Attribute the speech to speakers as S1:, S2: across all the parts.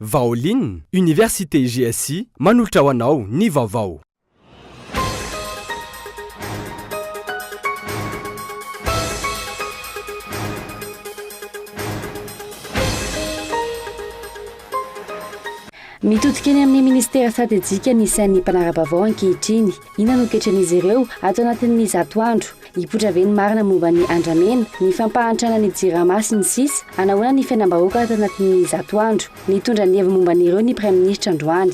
S1: Vaolin, Université GSI manolotra ho anao ny vaovao.
S2: Mitodika eny amin'ny Minisitera Stratejika ny sain'ny mpanara-baovao ankehitriny. Inona no toetran'izy ireo ato anatin'ny zato andro? Hipoitra ve ny marina momba ny andramena, ny fampahantrana ny Jirama sy ny sisa? Hanahoana ny fiainam-bahoaka ato anatin'ny zato andro? Nitondra ny heviny momba an'ireo ny Praiminisitra androany.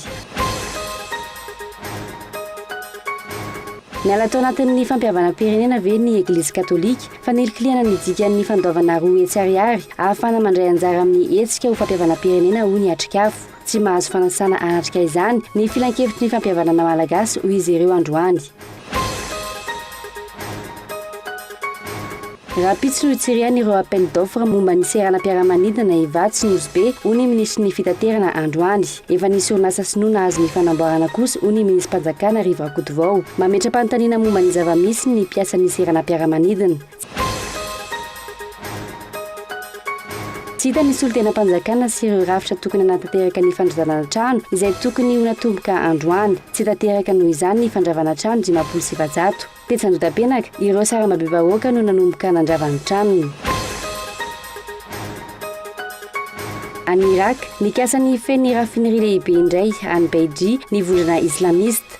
S2: Niala tao anatin'ny fampihavanam-pirenena ve ny Eglizy Katolika? Fanilikilihana ny dikan'ny fandoavana roa hetsy ariary ahafahana mandray anjara amin'ny hetsika ho fampihavanam-pirenena hoy ny Atrikafo. Tsy mahazo fanasana atrika izany ny filankevitry ny fampihavanana malagasy hoy izy ireo androany. Rahampitso no hitsirihany ireo appel d'offre momba ny seranam-piaramanidina Ivato sy Nosy Be hoy ny minisitry ny fitaterana androany. Efa nisy orinasa sinoa nahazo ny fanamboarana kosa hoy ny minism-panjakana Rivo Rakotovao. Mametra-panontaniana momba ny zava-misy ny mpiasan'ny seranam-piaramanidina. Tsy hita ny solontenam-panjakana sy ireo rafitra tokony hanatanteraka ny fandrazana trano izay tokony ho natomboka androany. Tsy tanteraka noho izany ny fandravana trano dimampolo sy efajato. Tetsy Andotapenaka, ireo sarambabem-bahoaka no nanomboka nandrava ny tranony. Any Iràka, nikasa ny hifehy ny raffinerie lehibe indray any Beidji ny vondrona islamiste.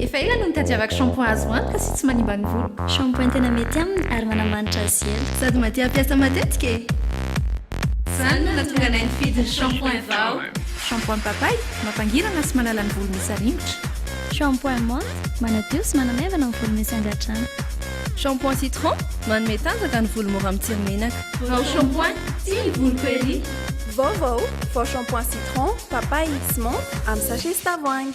S3: Efa ela no nitadiavako shampoing azo antoka sy tsy manimba ny voloko. Shampoing tena mety
S4: aminy ary manamanitra azy sy ela. Sady mahatia hampiasa
S3: matetika e! Izany no nahatonga anay nifidy ny shampoing vao. Shampoing papay? Mampangirana sy manala ny volo misy aringotra. Shampoing menthe,
S4: manadio sy manamaivana ny volo misy angadrano. Shampoing
S3: citron, manome tanjaka ny volo mora mitsiry menaka. Vao shampoing, tia ny voloko ery. Vaovao,
S5: vao shampoing citron, papay sy menthe amin'ny sachet sy tavoahangy.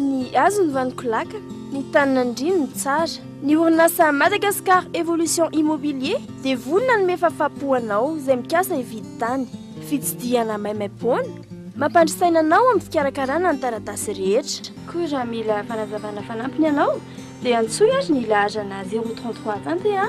S5: Ny hazo ny vaniko laka, ny tany nandriny ny tsara. Ny orinasa Madagascar Evolution Immobilier dia vonona hanome fafapo ho anao izay mikasa hividy tany. Fitsidihana maimaimpoana, mampandry saina anao amin'ny fikarakarana ny taratasy rehetra. Koa raha mila
S2: fanazavana fanampiny ianao dia antsoy ary ny laharana 033 Tante a!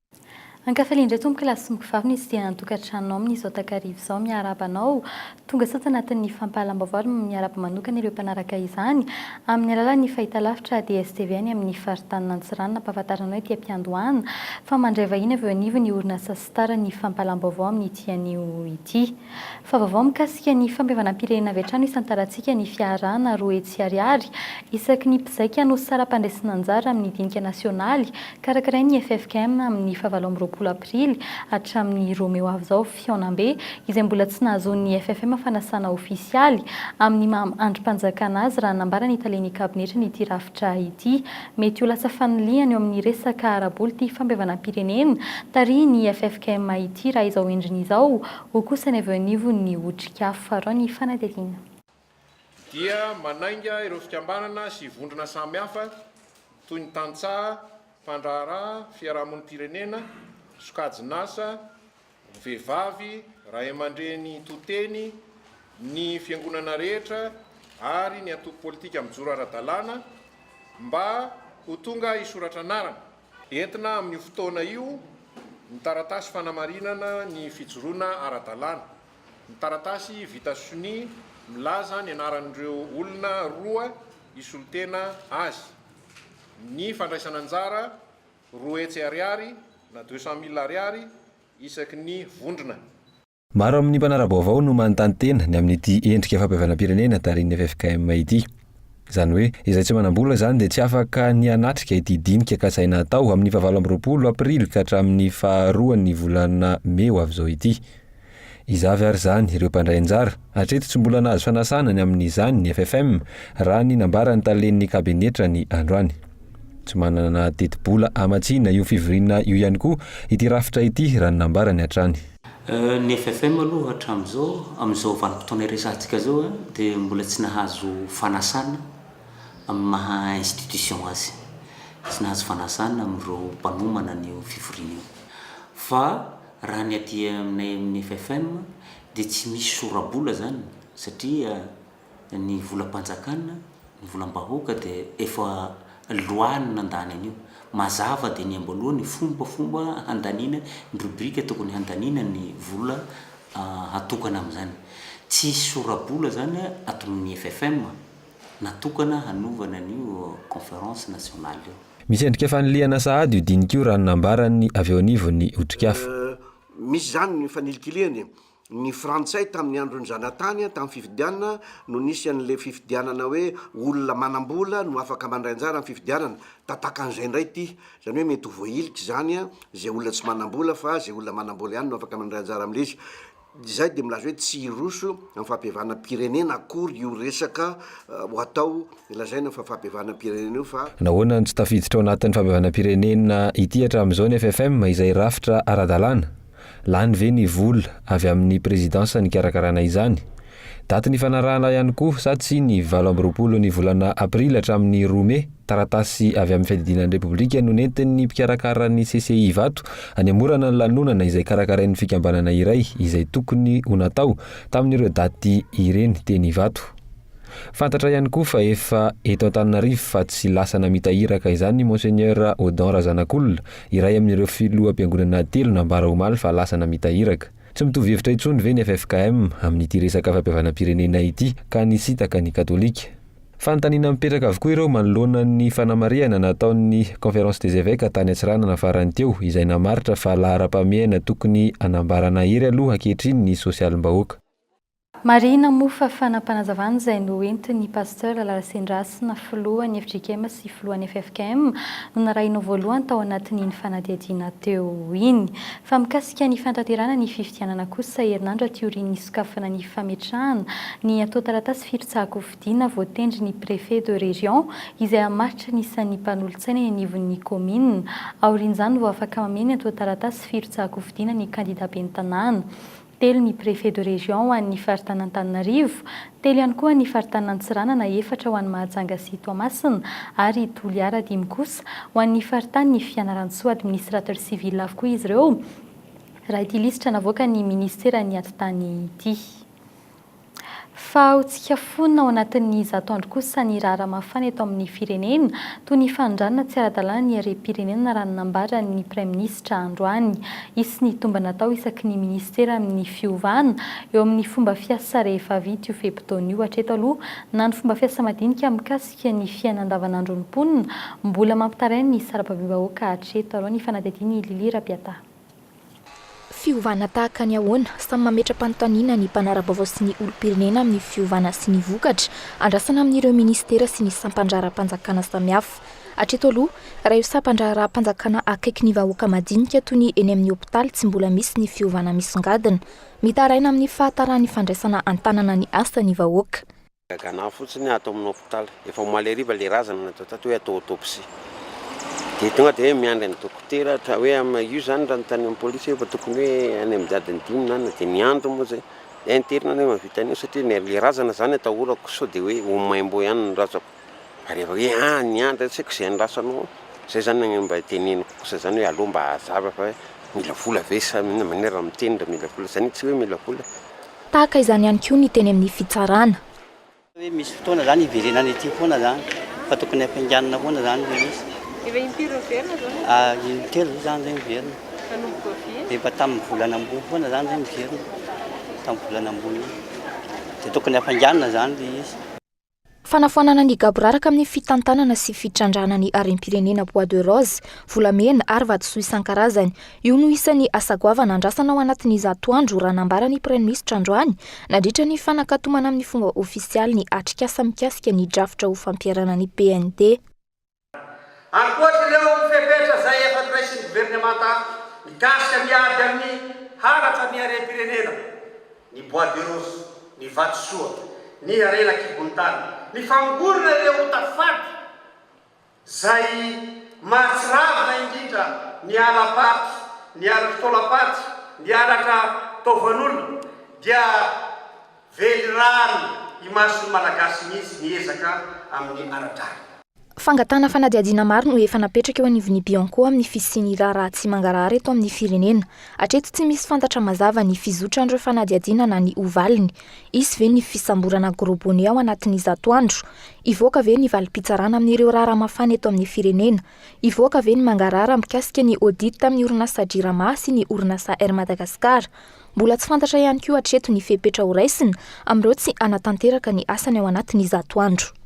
S6: Ankafalian-dry atomokilasy sy mokovavy ny sidina an-tokantranonao amin'izao takariva izao. Miarahaba anao. Tonga sao tsy anatin'ny fampahalam-baovao ary miarahaba manokana ireo mpanaraka izany amin'ny alalan'ny fahitalavitra DSTV any amin'ny faritanin'ny Antsiranana. Ampahafantarina anao ety am-piandohana fa mandray vahiny avy eo anivon'ny orinasa Star ny fampahalam-baovao amin'ity anio ity. Fa vaovao mikasika ny fampihavanam-pirenena avy hatrany isan-tarantsika ny fiarahana roa hetsy ariary isaky ny mpizaika no saram-pandresena anjara amin'ny dinika nasionaly karakarain'ny ffkm amin'ny fahavalo amby roapolo aprily hatramin'ny roa mey ho avy izao. Fihaonambe izay mbola tsy nahazoan'ny ffkm fanasana ofisialy amin'ny maha andrim-panjakana azy raha nambaran'ny talen'ny kabinetran'ity rafitra ity. Mety ho lasa fanilihana eo amin'ny resaka ara-bola ity fampihavanam-pirenena tarihin'ny ffkm ity raha izao endriny izao, hoy kosa ny avy eo anivon'ny Otrikafo Farao ny fanadihadiana.
S7: dia manainga ireo fikambanana sy vondrona samihafa toy ny tantsaha, mpandraharaha, fiarahamonim-pirenena, sokajin'asa, Vehivavy, Ray aman-dreny to-teny, ny Fiangonana rehetra ary ny antoko politika mijoro ara-dalàna mba ho tonga hisoratra anarana. Entina amin'io fotoana io ny taratasy fanamarinana ny fijoroana ara-dalàna. Ny taratasy vita sonia milaza ny anaran'ireo olona roa hisolo-tena azy. Ny fandraisana anjara Roa hetsy ariary na deux cent mille ariary isaky ny vondrona. Maro amin'ny
S8: mpanara-baovao no manontany tena ny amin'ity endrika fampihavanam-pirenena tarihin'ny ffkm ity. Izany hoe, izay tsy manam-bola izany dia tsy afaka ny hanatrika ity dinika kasaina hatao amin'ny fahavalo amby roapolo aprily ka hatramin'ny faharoan'ny volana mey ho avy izao ity. Iza avy ary izany ireo mpandray anjara? Hatreto tsy mbola nahazo fanasana ny amin'izany ny FFM, raha ny nambaran'ny talen'ny kabinetra ny androany. Tsy manana tetibola hamatsiana io fivoriana io ihany koa ity rafitra ity raha ny nambarany hatrany. Ny
S9: FFM aloha hatramin'izao, amin'izao vanim-potoana iresahantsika izao, dia mbola tsy nahazo fanasana amin'ny maha institution azy. Tsy nahazo fanasana amin'ireo mpanomana an'io fivoriana io. Fa. Raha ny aty aminay amin'ny FFM dia tsy misy sora-bola izany satria ny volam-panjakana, ny volam-bahoaka dia efa loi no nandany an'io. Mazava dia ny amboalohany ny fombafomba handaniana, ny rubrique tokony handaniana ny vola hatokana amin'izany. Tsy hisy sora-bola izany ato amin'ny FFM. natokana hanovana an'io Conférence nationale io. Misy endrika fanilihana
S8: sahady io dinika io raha ny nambaran'ny avy
S10: eo
S8: anivon'ny Otrikafo.
S10: Misy izany
S8: ny fanilikilihany. Ny
S10: Frantsay tamin'ny andron'ny zanatany, tamin'ny fifidianana, no nisy an'ilay fifidianana hoe olona manam-bola no afaka mandray anjara amin'ny fifidianana. Tatakan'izay indray ity. Izany hoe mety ho voahilika izany izay olona tsy manam-bola fa izay olona manam-bola ihany no afaka mandray anjara amin'ilay izy. Izay dia milaza hoe tsy hiroso amin'ny fahabevanam-pirenena akory io resaka ho atao lazaina fa fahabevanam-pirenena io fa. Nahoana no tsy tafiditra ao
S8: anatin'ny fahabevanam-pirenena ity hatramin'izao ny FFM izay rafitra ara-dalàna? Lany ve ny vola avy amin'ny prezidansa nikarakarana izany? Daty nifanarahana ihany koa sa tsia ny valo amby roapolo ny volana aprily hatramin'ny roa mey, taratasy avy amin'ny fiadidiana ny Repoblika no nentin'ny mpikarakara ny CCI Ivato hanemorana ny lanonana izay karakarain'ny fikambanana iray izay tokony ho natao tamin'ireo daty ireny teny Ivato. Fantatra ihany koa fa efa eto Antananarivo fa tsy lasa namita iraka izany i Monseigneur Odon Razanakolona, iray amin'ireo filoham-piangonana telo nambara omaly fa lasa namita iraka. Tsy mitovy hevitra intsony ve ny ffkm amin'ity resaka fampihavanam-pirenena ity ka nisintaka ny katolika? Fanontaniana mipetraka avokoa ireo manoloana ny fanamarihana nataon'ny Conférence des Evêques tany Antsiranana farany teo izay namaritra fa laharam-pahamehana tokony hanambara nahery aloha ankehitriny ny sosialim-bahoaka. Marihina
S6: moa fa fanapanazavana izay noentin'ny Pasteur Lalasendrasina, filohan'ny fjkm sy filohan'ny ffkm, no narahina ho voalohany tao anatin'iny fanadihadiana teo iny. Fa mikasika ny fanatanterahana ny fifidianana kosa, herinandro aty aorian'ny hisokafana ny fametrahana ny antontan-taratasy firotsahan-kofidina voatendry ny Préfet de Région izay hamaritry ny isan'ny mpanolotsaina eny anivon'ny Kaominina. Aorian'izany vao afaka mameno ny antontan-taratasy firotsahan-kofidina ny kandida ben'ny tanàna. telo ny préfet de région ho an'ny faritanin'Antananarivo, telo ihany koa ny faritanin'Antsiranana, efatra ho an'i Mahajanga sy Toamasina ary Toliara, dimy kosa ho an'ny faritanin'i Fianarantsoa. Administrateur civil avokoa izy ireo, raha ity lisitra navoakan'ny minisiteran'ny atitany ity. Fa ho tsika fona ao anatin'ny zato andro kosa ny raharaha mafana eto amin'ny firenena, toy ny fanondranana tsy ara-dalàna ny harem-pirenena raha ny nambaran'ny praiminisitra androany. Hisy ny tombana atao isaky ny minisitera amin'ny fiovana eo amin'ny fomba fiasa rehefa vita io fe-potoana io. Hatreto aloha na ny fomba fiasa madinika mikasika ny fiaina andavanandron'ny mponina mbola mampitaraina ny sarababem-bahoaka hatreto aloha ny fanadihadian'i Lily Rapiata.
S11: Fiovana tahaka ny ahoana? Samy mametra-panontaniana ny mpanara-baovao sy ny olom-pirenena amin'ny fiovana sy ny vokatra andrasana amin'ireo minisitera sy ny sampan-draharaham-panjakana samihafa. Hatreto aloha, raha io sampan-draharaham-panjakana akaiky ny vahoaka madinika toy ny eny amin'ny hopitaly tsy mbola misy ny fiovana misongadina. Mitaraina amin'ny fahataran'ny fandraisana an-tanana ny asa ny vahoaka. Gagana ahy fotsiny
S12: aho ato amin'ny hopitaly, efa omaly hariva ilay razana natao tato hoe atao autopsie. Dia tonga dia hoe miandry an'i dokotera, ohatra hoe am- io izany raha notanian'ny amin'ny polisy hoe efa tokony hoe any amin'ny adiny dimy na enina, dia niandry moa izay. Dia interne anie mahavita an'io satria ny ilay razana izany atahorako sao dia hoe ho maimbo ihany ny razako. Ary efa hoe ah niandry ary tsy haiko izay andrasanao ao. Izay izany no mba iteneniko kosa izany hoe aleo mba hazava fa hoe mila vola ve sa inona, maninona raha miteny raha mila vola, izany hoe tsy hoe mila vola Tahaka izany
S11: ihany koa ny teny amin'ny fitsarana. Hoe misy
S13: fotoana izany hiverenana ity foana izany fa tokony hampianganina foana izany ilay izy. Efa intelo
S14: miverina izao ny mpitondra. Intelo ve izany izay
S13: miverina? Nanomboka
S14: vy? Efa tamin'ny volana ambony
S13: foana izany izay miverina, tamin'ny volana ambony iny. Dia tokony hampianganina izany ilay izy. Fanafoanana
S11: ny gaboraraka amin'ny fitantanana sy fitrandrahana ny harem-pirenena Bois de Rose, volamena ary vatosoa isan-karazany. Io no isan'ny asa goavana andrasana ao anatin'ny zato andro, raha nambara ny Praiminisitra androany, nandritra ny fanakatomana amin'ny fomba ofisialy ny atrikasa mikasika ny drafitra ho fampiharana ny PND. Ankoatr'ireo
S15: fepetra izay efa noraisin'ny governemanta mikasika ny ady amin'ny halatra ny harem-pirenena, ny bois de rose, ny vatosoa, ny harena an-kibontany, ny famongorana ireo ota fady izay mahatsiravina indrindra ny hala-paty, ny halatra taolam-paty, ny halatra taovan'olona, dia Velirano imason'ny Malagasy mihitsy ny ezaka amin'ny ara-drariny. Fangatahana
S11: fanadihadiana maro no efa napetraka eo anivon'ny Bianco amin'ny fisian'ny raharaha tsy mangarahara eto amin'ny firenena. Hatreto tsy misy fantatra mazava ny fizotran'ireo fanadihadiana na ny ho valiny. Hisy ve ny fisamborana Gros Bonnet ao anatin'ny zato andro? Hivoaka ve ny valim-pitsarana amin'ireo raharaha mafana eto amin'ny firenena? Hivoaka ve ny mangarahara mikasika ny audit tamin'ny orinasa Jirama sy ny orinasa Air Madagascar? Mbola tsy fantatra ihany koa hatreto ny fepetra horaisina amin'ireo tsy hanatanteraka ny asany ao anatin'ny zato andro.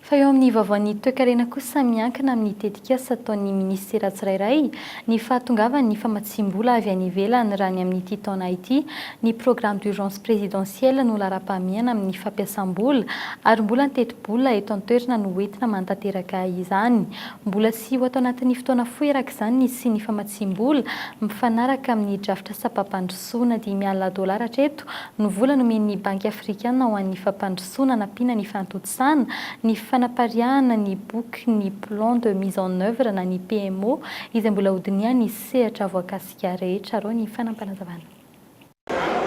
S11: Fa
S6: eo amin'ny vaovaon'ny toekarena kosa miankina amin'ny tetikasa ataon'ny minisitera tsirairay Ny fahatongavan'ny famatsiam-bola avy any ivelany raha ny amin'ity taona ity, ny programme d'urgence présidentielle no laharam-pahamehana amin'ny fampiasam-bola ary mbola ny tetibola eto an-toerana no hoentina manatanteraka izany. Mbola sy ho ato anatin'ny fotoana fohy araka izany ny hisian'ny famatsiam-bola mifanaraka amin'ny drafitra sampam-pandrosoana. Dimy alina dolara hatreto no vola nomen'ny Banky afrikana ho an'ny fampandrosoana hanampiana ny fahantojan-tsaina. Sana, ny fanapariahana ny boky ny Plan de mise en œuvre na ny PMO izay mbola hodinihan'ny sehatra voakasika rehetra arao ny fanampanazavana.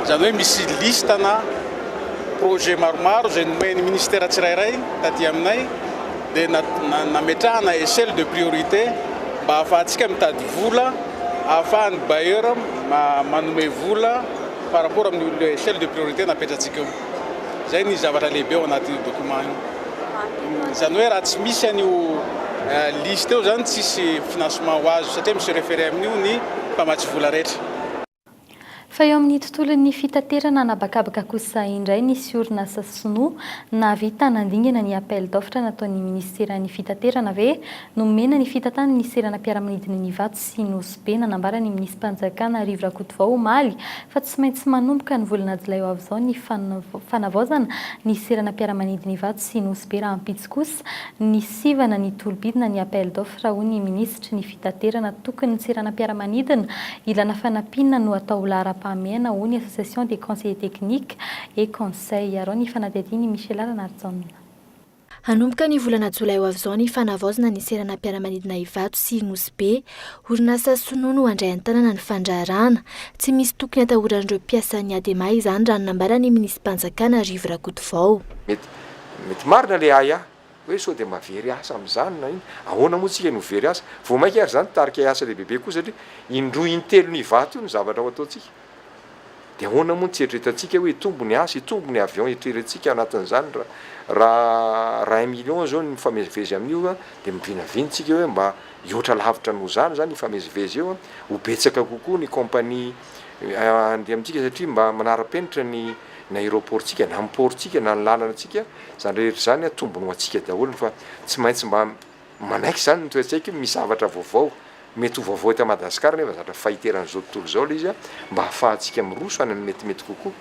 S3: Izany hoe misy liste na projet maromaro izay nomen'ny Ministera tsirairay taty aminay dia nametrahana echelle de priorité mba hahafahantsika mitady vola, hahafahan'ny bailleur manome vola par rapport amin'io echelle de priorité napetratsika io. Izay ny zavatra lehibe ao anatin'io document io. Izany hoe raha tsy misy an'io liste io izany tsisy financement ho azo satria mi se referer amin'io ny mpamatsy vola rehetra.
S6: Fa eo amin'ny tontolon'ny fitaterana anabakabaka kosa indray nisy orinasa sinoa nahavita nandingana ny appel d'offre nataon'ny minisiteran'ny fitaterana ve Nomena ny fitantanana ny seranam-piaramanidin'i Nivato sy Nosy Be nanambara ny minisi-panjakana Rivo Rakotovao omaly fa tsy maintsy manomboka ny volana jolay ho avy izao ny fanavaozana ny seranam-piaramanidin'i Ivato sy Nosy Be rahampitso kosa ny sivana ny tolobidina ny appel d'offre hoy ny minisitry ny fitaterana tokony ny seranam-piaramanidina ilana fanampiana no atao ho laharam-pahamehana hoy ny association des conseillers techniques et conseils arao ny fanadihadian'i Michela Ranarijaona. Hanomboka
S11: ny volana jolay ho avy izao ny fanavaozana ny seranam-piaramanidina Ivato sy Nosy Be. Orinasa sinoa no handray an-tanana ny fandraharahana. Tsy misy tokony hatahoran'ireo mpiasan'ny Adema izany raha ny nambaran'ny minisi-panjakana Rivo Rakotovao. Mety mety
S16: marina le ahiahy hoe sao dia mba very asa amin'izany na inona. Ahoana moa tsika no very asa? Vao mainka ary izany tarika hiasa lehibebe koa satria indroa intelon'Ivato io ny zavatra ho ataontsika. Dia ahoana moa ny tsy eritreretantsika hoe hitombo ny asa, hitombo ny avion eritreretintsika anatin'izany ra ra ra un million zao ny mifamezivezy amin'io a, dia mivinavina tsika hoe mba hihoatra lavitra noho izany zany hifamezivezy eo a, ho betsaka kokoa ny compagnie handeha amintsika satria mba manara-penitra ny ny aéroport-tsika na ny port-tsika na ny lalantsika, zany rehetra zany a tombony ho antsika daholo fa tsy maintsy mba Manaiky izany ny toe-tsaiko io, misy zavatra vaovao, mety ho vaovao eto Madagasikara nefa zatra fahiteran'izao tontolo izao ilay izy an, mba hahafahantsika miroso any amin'ny metimety kokoa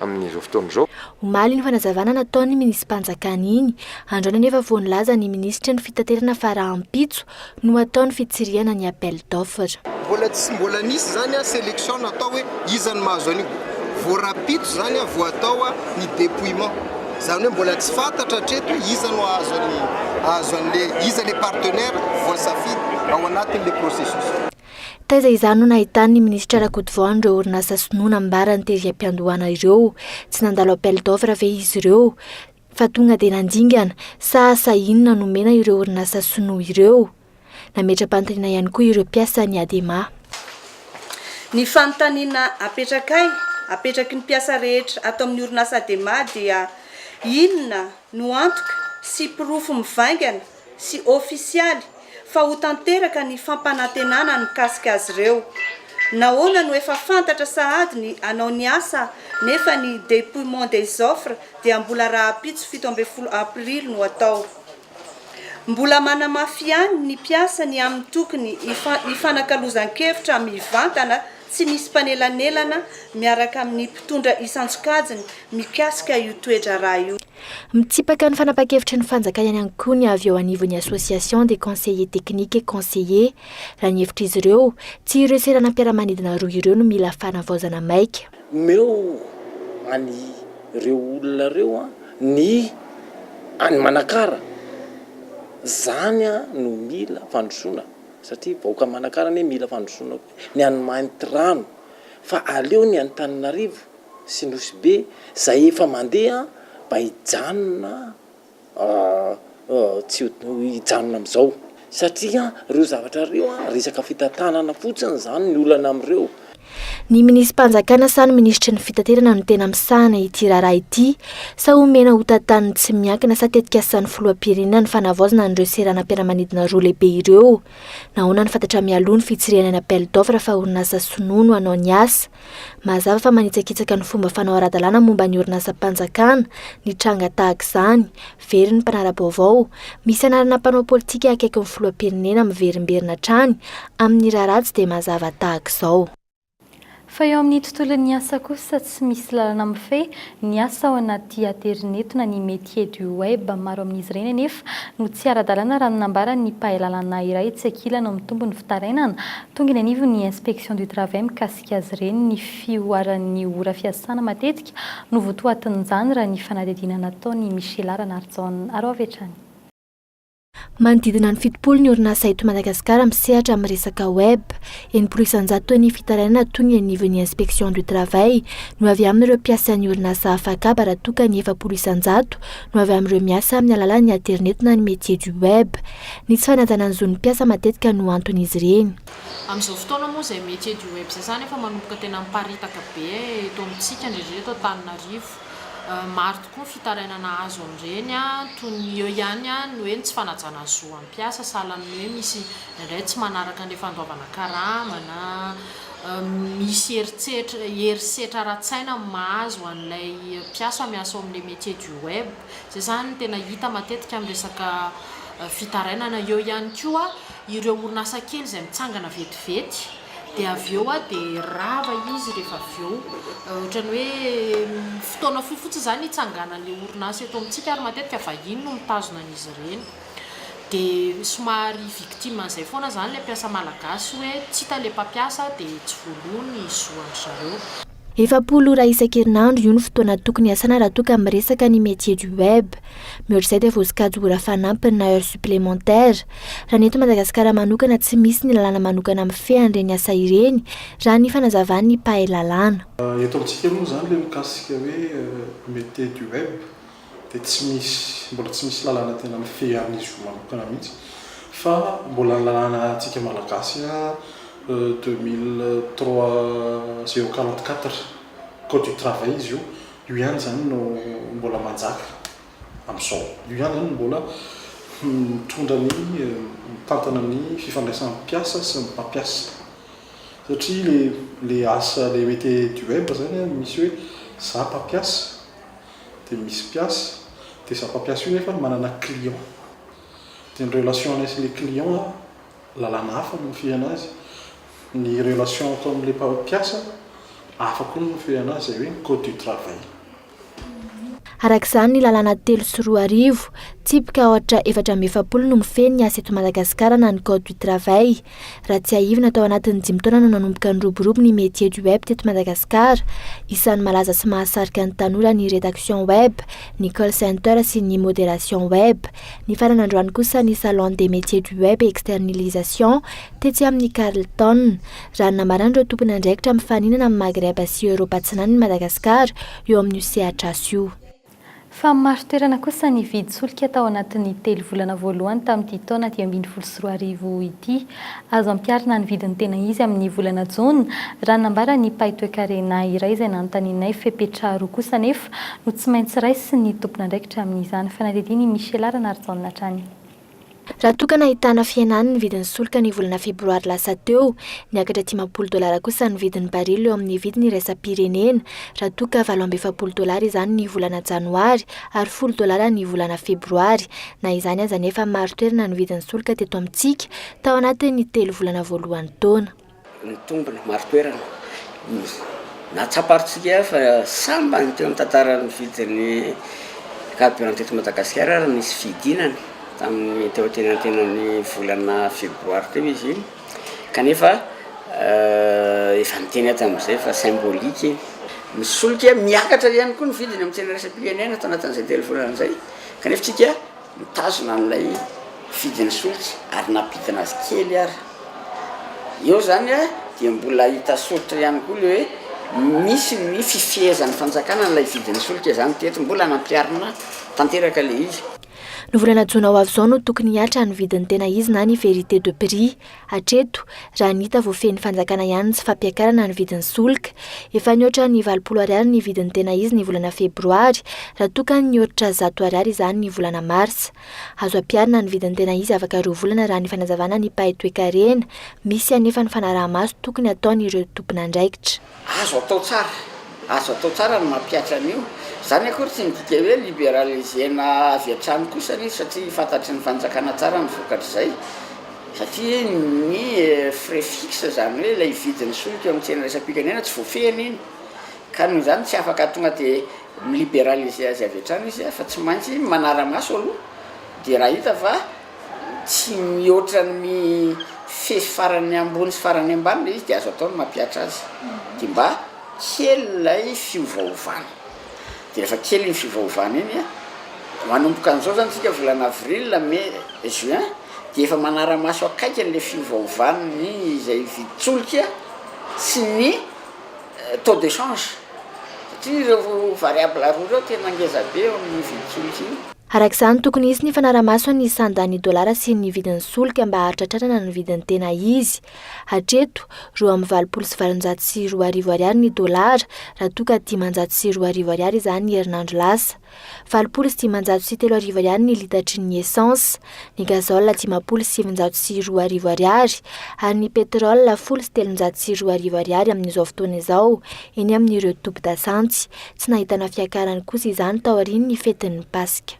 S16: amin'izao fotoana izao. Omaly iny fanazavana
S11: nataon'ny minisi-panjakana iny. Androany anefa vao nilaza ny minisitry ny fitaterana fa rahampitso no hatao ny fitsirihana ny appel d'offre. Mbola tsy mbola
S1: nisy izany selection natao hoe iza no mahazo an'io. Vao rahampitso izany vao atao ny depouillement. Izany hoe mbola tsy fantatra hatreto hoe iza no hahazo an'i, hahazo an'le, iza le partenaire voasafidy ao anatin'le processus. Taiza
S11: izany no nahitan'ny minisitra Rakotovao an'ireo orinasa sinoa nambarany tery am-piandohana ireo? Tsy nandalo appel d'offre ve izy ireo? Fa tonga dia nandingana? Sa, sa inona nomena ireo orinasa sinoa ireo? Nametra-panontaniana ihany koa ireo mpiasan'ny Adema.
S14: Ny fanontaniana apetrakay, apetraky ny mpiasa rehetra ato amin'ny orinasa Adema dia inona no antoka sy porofo mivaingana sy ofisialy fa ho tanteraka ny fampanantenana mikasika azy ireo? Nahoana no efa fantatra sahady ny hanao ny asa nefa ny dépouillement des offres dia mbola rahampitso fito ambin'ny folo aprily no atao? Mbola manamafy ihany ny mpiasa ny amin'ny tokony hifanakalozan-kevitra mivantana tsy misy mpanelanelana miaraka amin'ny mpitondra isan-tsokajiny mikasika io toe-draharaha io. Mitsipaka ny
S11: fanapan-kevitry ny fanjakana ihany koa ny avy eo anivon'ny Association des conseillers techniques et conseillers. Raha ny hevitr'izy ireo, tsy ireo seranam-piaramanidina roa ireo no mila fanavaozana maika. Omeo
S17: an' ireo olona ireo ny any Manakara, izany no mila fandrosoana satria vahoaka Manakara anie mila fandrosoana koa, ny any Mahintirano fa aleo ny Antananarivo sy Nosy Be izay efa mandeha mba hijanona. tsy ho hijanona amin'izao satria ireo zavatra ireo resaka fitantanana fotsiny izany ny olana amin'ireo. Ny
S11: minisi-panjakana sa ny minisitry ny fitaterana no tena misahana ity raharaha ity sa omena hotantaniny tsy miankina sa tetikasan'ny filoham-pirenena ny fanavaozana an'ireo seranam-piaramanidina roa lehibe ireo? Nahoana no fantatra mialoha ny fitsirihana ny appel d'offre fa orinasa sinoa no hanao ny asa? Mazava fa manitsakitsaka ny fomba fanao ara-dalàna momba ny orinasam-panjakana ny tranga tahaka izany, very ny mpanara-baovao, misy anarana mpanao politika akaikin'ny filoham-pirenena miverimberina hatrany amin'ny raharaha tsy dia mazava tahaka izao. Fa
S6: eo amin'ny tontolon'ny asa kosa tsy misy lalana mifehy ny asa ao anaty aterineto na ny métiers du web. Maro amin'izy ireny anefa no tsy ara-dalàna raha ny nambaran'ny mpahay lalàna iray tsy ankilany ao amin'ny tombony fitarainana Tonga eny anivon'ny Inspection du Travail mikasika azy ireny ny fihoaran'ny ora fiasana matetika no votoatin'izany raha ny fanadihadiana nataon'i Michela Ranarijaona. Araho avy hatrany.
S11: Manodidina ny fitopolo ny orinasa eto Madagasikara misehatra amin'ny resaka web. Enimpolo isanjato ny fitarainana tonga eny anivon'ny Inspection du Travail no avy amin'ireo mpiasan'ny orinasa afakaba raha toa ka ny efapolo isanjato no avy amin'ireo miasa amin'ny alalan'ny aterineto na ny métier du web. Ny tsy fanajana ny zon'ny mpiasa matetika no anton'izy ireny. Amin'izao fotoana
S18: moa izay métier du web sasany efa manomboka tena miparitaka be eto amintsika indrindra eto Antananarivo. Maro tokoa ny fitarainana azo amin'ireny toy ny eo ihany ny hoe ny tsy fanajana ny zo an'ny mpiasa sahala amin'ny hoe misy indraindray tsy manaraka ny fandoavana karama na misy herisetra ara-tsaina mahazo an'ilay mpiasa miasa ao amin'ilay métier du web. Izay izany no tena hita matetika amin'ny resaka fitarainana. Eo ihany koa ireo orinasa kely izay mitsangana vetivety dia avy eo dia rava izy rehefa avy eo. Ohatran'ny hoe fotoana fohy fotsiny izany hitsanganan'ny orinasa eto amintsika ary matetika vahiny no mitazona an'izy ireny. Dia somary victime an'izay foana izany ilay mpiasa malagasy hoe tsy hita ilay mpampiasa dia tsy voaloa ny zo an-dry zareo. Efapolo ora
S11: isan-kerinandro, io no fotoana tokony hiasana raha toa ka miresaka ny métier du web. Mihoatr'izay dia voasokajy ora fanampiny na heures supplémentaires. Raha ny eto Madagasikara manokana tsy misy ny lalàna manokana mifehy an'ireny asa ireny, raha ny fanazavan'ny mpahay lalàna. Eto amintsika moa
S2: izany ilay mikasika hoe métier du web dia tsy misy, mbola tsy misy lalàna tena mifehy an'izy roa manokana mihitsy fa mbola ny lalàna antsika Malagasy a deux mille trois zéro quarante quatre code du travail izy io, io ihany izany no mbola manjaka amin'izao, io ihany izany no mbola mitondra ny mitantana ny fifandraisan'ny mpiasa sy ny mpampiasa satria ilay asa ilay mete du web izany a misy hoe za mpampiasa dia misy mpiasa dia za mpampiasa io nefa manana client dia ny relation anay sy ilay client a lalàna hafa no mifehana azy, ny relation atao amin'ilay mpiasa hafa koa no mifehana azy izay hoe ny code du travail. Araka
S11: izany ny lalàna telo sy roa arivo, tsipika ohatra efatra amby efapolo no mifehy ny asa eto Madagasikara na ny code du travail, Raha tsiahivina tao anatin'ny dimy taona no nanomboka niroborobo ny métier du web teto Madagasikara. Isan'ny malaza sy mahasarika ny tanora ny rédaction web, ny call center sy ny modération web. Nifarana androany kosa ny salon des métiers du web et externalisation tetsy amin'ny Carlton. Raha ny namaran'ireo tompon'andraikitra mifaninana amin'ny Maghreb sy Europa Atsinanana i Madagasikara eo amin'io sehatr'asa io. Fa
S6: marin-toerana kosa ny vidin-tsolika tao anatin'ny telo volana voalohany tamin'ity taona dimy ambin'ny folo sy roa arivo ity. Azo ampiharina ny vidiny tena izy amin'ny volana jona, raha ny nambaran'ny mpahay toekarena iray izay nanontanianay. Fepetra roa kosa anefa no tsy maintsy raisin'ny tompon'andraikitra amin'izany. Fanadihadian'i Michela Ranarijaona hatrany. Raha toa
S11: ka nahitana fihenany ny vidin'ny solika ny volana febroary lasa teo, niakatra dimampolo dolara kosa ny vidin'ny barily eo amin'ny vidiny iraisam-pirenena, raha toa ka valo amby efapolo dolara izany ny volana janoary ary folo dolara ny volana febroary. Na izany aza anefa, maro toerana ny vidin'ny solika teto amintsika tao anatin'ny telo volana voalohan'ny taona. Nitombina
S13: marin-toerana ny nahatsapa RCGA fa sambany teo amin'ny tantaran'ny vidin'ny carburant teto Madagasikara ary nisy fidinana tamin'ny teo antenantenan'ny volana febroary teo izy iny kanefa efa niteny aho tamin'izay fa symbolique iny. Misoloky miakatra ihany koa ny vidiny amin'ny tsena iraisam-pirenena tao anatin'izay telo volana izay kanefa tsika Nitazona an'ilay mpifidy ny solika ary nampidina azy kely ary. Eo izany an, dia mbola hita soritra ihany koa ilay hoe misy ny fifehezan'ny fanjakana an'ilay mpifidy ny solika izany teto. Mbola nampiharina tanteraka ilay izy. Ny
S11: volana jona ho avy izao no tokony hihatra ny vidin'ny tena izy na ny vérité de prix. Hatreto, raha ny hita voafehin'ny fanjakana ihany ny tsy fampiakarana ny vidin'ny solika. Efa nihoatra ny valopolo ariary ny vidin'ny tena izy ny volana febroary, raha toa ka nihoatra zato ariary izany ny volana marsa. Azo ampiharina ny vidin'ny tena izy afaka roa volana raha ny fanazavana ny mpahay toekarena. Misy anefa ny fanaraha-maso tokony hataon'ireo tompon'andraikitra. Azo atao
S13: tsara, azo atao tsara ny mampihatra an'io. Izany akory tsy midika hoe liberaliser-na avy hatrany kosa ny izy satria fantatry ny fanjakana tsara ny vokatr'izay satria ny frais fixe izany hoe ilay vidin'ny solika eo amin'ny tsena iraisam-pirenena tsy voafehiny iny ka noho izany tsy afaka tonga dia mi-liberaliser azy avy hatrany izy fa tsy maintsy manara-maso aloha dia raha hita fa tsy mihoatra ny mifefy farany ambony sy farany ambany ilay izy dia azo atao ny mampihatra azy dia mba kely ilay fiovaovana dia rehefa kely iny fiovaovana iny manomboka an'izao izany isika volana avril, mai, juin dia efa manara-maso akaiky an'ilay fiovaovan'ny izay vitsy solika sy ny taux de change satria ireo variable roa ireo tena ngeza be eo amin'io vidiko io. Araka izany, tokony hisy
S11: ny fanara-maso an'ny sandan'ny dolara sy ny vidin'ny solika mba hahatratrarana ny vidiny tena izy. Hatreto, roa amby valopolo sy valonjato sy roa arivo ariary ny dolara, raha toa ka dimanjato sy roa arivo ariary izany herinandro lasa. Valopolo sy dimanjato sy telo arivo ariary ny litatry ny essence, ny gazole dimampolo sy sivinjato sy roa arivo ariary ary ny pétrole folo sy telonjato sy roa arivo ariary amin'izao fotoana izao eny amin'ireo tobin-dasantsy. Tsy nahitana fiakarany kosa izany taorian'ny fetin'ny Paska.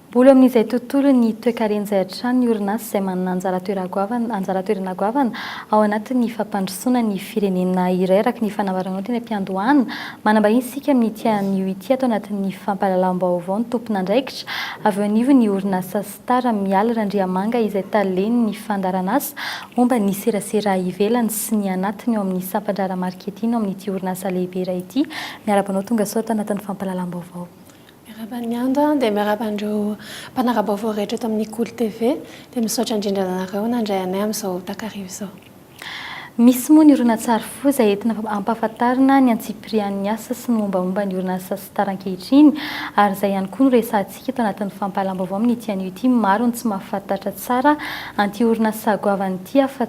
S11: Mbola eo
S6: amin'izay tontolon'ny toekarena izay hatrany ny orinasa izay manana anjara toerana goavana anjara toerana goavana ao anatin'ny fampandrosoana ny firenena iray araka ny fanambarana teny am-piandohana. Manambahiny isika amin'ity anio ity ato anatin'ny fampahalalam-baovao ny tompon'andraikitra avy eo anivon'ny orinasa Star Mialy Randriamanga izay talen'ny fandaharanasa momba ny serasera ivelany sy ny anatiny ao amin'ny sampandraharaha marketing ao amin'ity orinasa lehibe iray ity. Miarahaba anao tongasoa ato anatin'ny fampahalalam-baovao. Miarahaba an'i
S5: Ando dia miarahaba an'ireo mpanara-baovao rehetra eto amin'ny Kolo TV. Dia misaotra indrindra anareo nandray anay amin'izao takariva izao. Misy
S6: moa ny horonantsary foza entina hampahafantarana ny antsipirian'ny asa sy ny mombamomba ny orinasa Star ankehitriny ary izay ihany koa no resahantsika eto anatin'ny fampahalam-baovao amin'ity anio ity. Maro ny tsy mahafantatra tsara an'ity orinasa goavana ity afa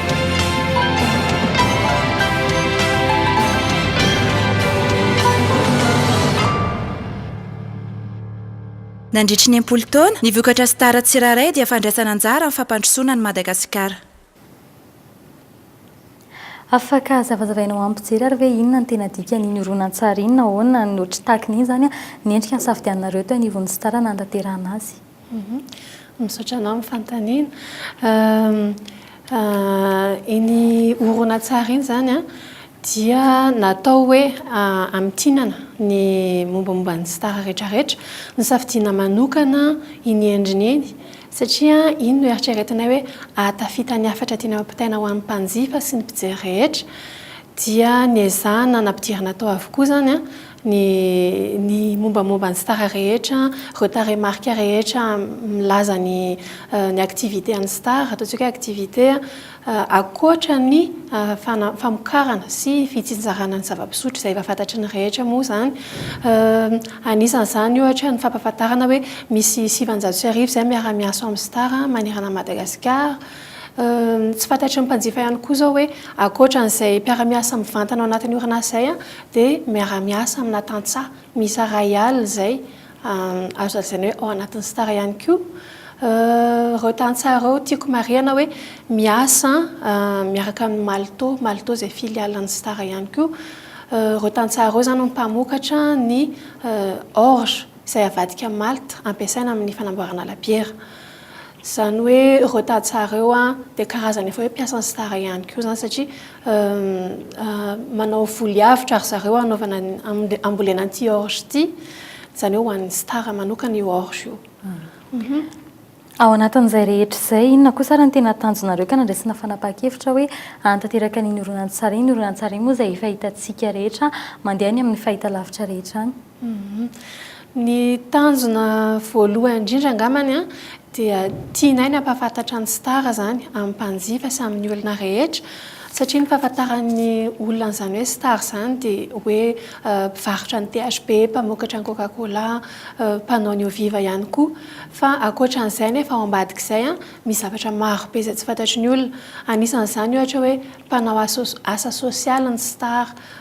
S19: Nandritry ny enimpolo taona, ny vokatra Star tsirairay dia fandraisana anjara amin'ny fampandrosoana an'i Madagasikara.
S6: Afaka hazavazavainao amin'ny mpijery ary ve inona no tena dikan'iny horonantsary iny? Nahoana no tsy tahaka ny inona izany ny endrika nisafidianinareo teo anivon'ny Star nanatanterahana azy?
S5: Misaotra anao amin'ny fanontaniana. Iny horonantsary iny izany an, dia natao hoe hamintinana ny mombamomba ny star rehetrarehetra. Nosafidiana manokana iny endriny iny satria iny no eritreretinay hoe ahatafita ny hafatra tiana ampitaina ho an'ny mpanjifa sy ny mpijery rehetra. Dia niezahana nampidirina tao avokoa izany an. ny ny mombamomba ny star rehetra ireo tarehimarika rehetra milaza ny ny activité an'ny star ataontsika hoe activité ankoatra ny fana- famokarana sy fitsinjarana ny zava-pisotro izay efa fantatry ny rehetra moa izany anisan'izany ohatra ny fampahafantarana hoe misy sivinjato sy arivo izay miara miasa ao amin'ny star manerana an'i Madagasikara tsy fantatry ny mpanjifa ihany koa izao hoe ankoatra an'izay mpiara-miasa mivantana ao anatin'ny orinasa izay dia miara-miasa amina tantsaha miisa iray alina izay azo lazaina hoe ao anatin'ny Star ihany koa ireo tantsaha ireo. Tiako marihana hoe miasa miaraka amin'ny Malto, Malto izay filiale an'ny Star ihany koa. Ireo tantsaha ireo izany no mpamokatra ny orge izay avadika amin'ny malt ampiasaina amin'ny fanamboarana labiera. Izany hoe ireo tantsaha ireo dia karazana efa hoe mpiasa ny star ihany koa izany satria manao voly avotra ry zareo hanaovana hambolena an'ity orge ity. Izany hoe ho an'ny star manokana io orge io.
S6: Ao anatin'izay rehetra izay, inona kosa ary no tena tanjonareo ka nandraisana fanapahan-kevitra hoe hanatanteraka an'iny horonantsary iny? Horonantsary moa izay efa hitantsika rehetra mandeha any amin'ny fahitalavitra rehetra any. Ny
S5: tanjona voalohany indrindra angambany dia tianay ny hampahafantatra ny Star izany amin'ny mpanjifa sy amin'ny olona rehetra satria ny fahafantaran'ny olona an'izany hoe Star izany dia hoe mpivarotra ny THB, mpamokatra ny Coca Cola, mpanao ny Oviva ihany koa. Fa ankoatra an'izay nefa ao ambadik'izay misy zavatra marobe izay tsy fantatry ny olona. Anisan'izany ohatra hoe mpanao asa sosialy ny Star,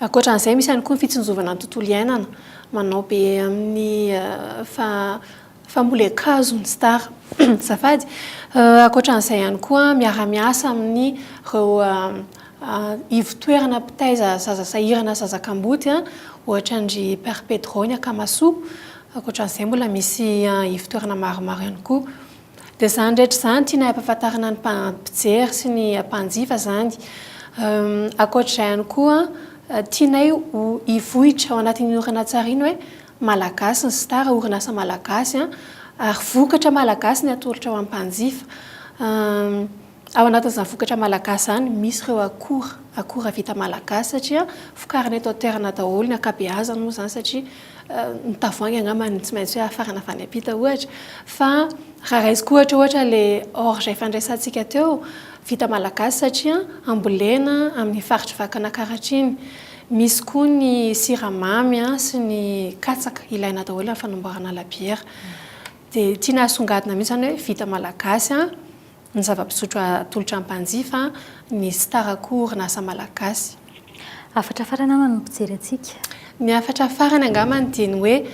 S5: Ankoatra an'izay, misy ihany koa ny fitsinjovana ny tontolo iainana, manao be amin'ny famole-kazo ny star. Azafady. Ankoatra an'izay ihany koa, miara-miasa amin'ireo ivo-toerana mpitaiza zaza sahirana sy zaza kamboty, ohatra an-dry Père Pedro ny Akamasoa. Ankoatra an'izay, mbola misy ivo-toerana maromaro ihany koa. Dia izany rehetra izany tianay ampahafantarana ny mpijery sy ny mpanjifa izany. Ankoatra izay ihany koa, tianay ho hivoitra ao anatin'iny horonantsary iny hoe Malagasy ny Star, orinasa malagasy ary vokatra malagasy ny atolotra ho an'ny mpanjifa. Ao anatin'izany vokatra malagasy izany misy ireo akora, akora vita malagasy satria vokarina eto an-toerana daholo ny ankabeazany moa izany satria ny tavoahangy angamba no tsy maintsy hoe hafarana avy any am-pita ohatra fa raha raisiko ohatra ohatra ilay orge efa niresahantsika teo, vita malagasy satria ambolena amin'ny faritr'i Vakinankaratra iny. Misy koa ny siramamy sy ny katsaka ilaina daholo amin'ny fanamboarana labiera. Dia tiana hasongadina mihitsy izany hoe vita malagasy. Ny zava-pisotro atolotra mpanjifa, ny Star koa orinasa malagasy. Hafatra
S6: farany angamba no mpijery antsika. Ny hafatra
S5: farany angambany dia ny hoe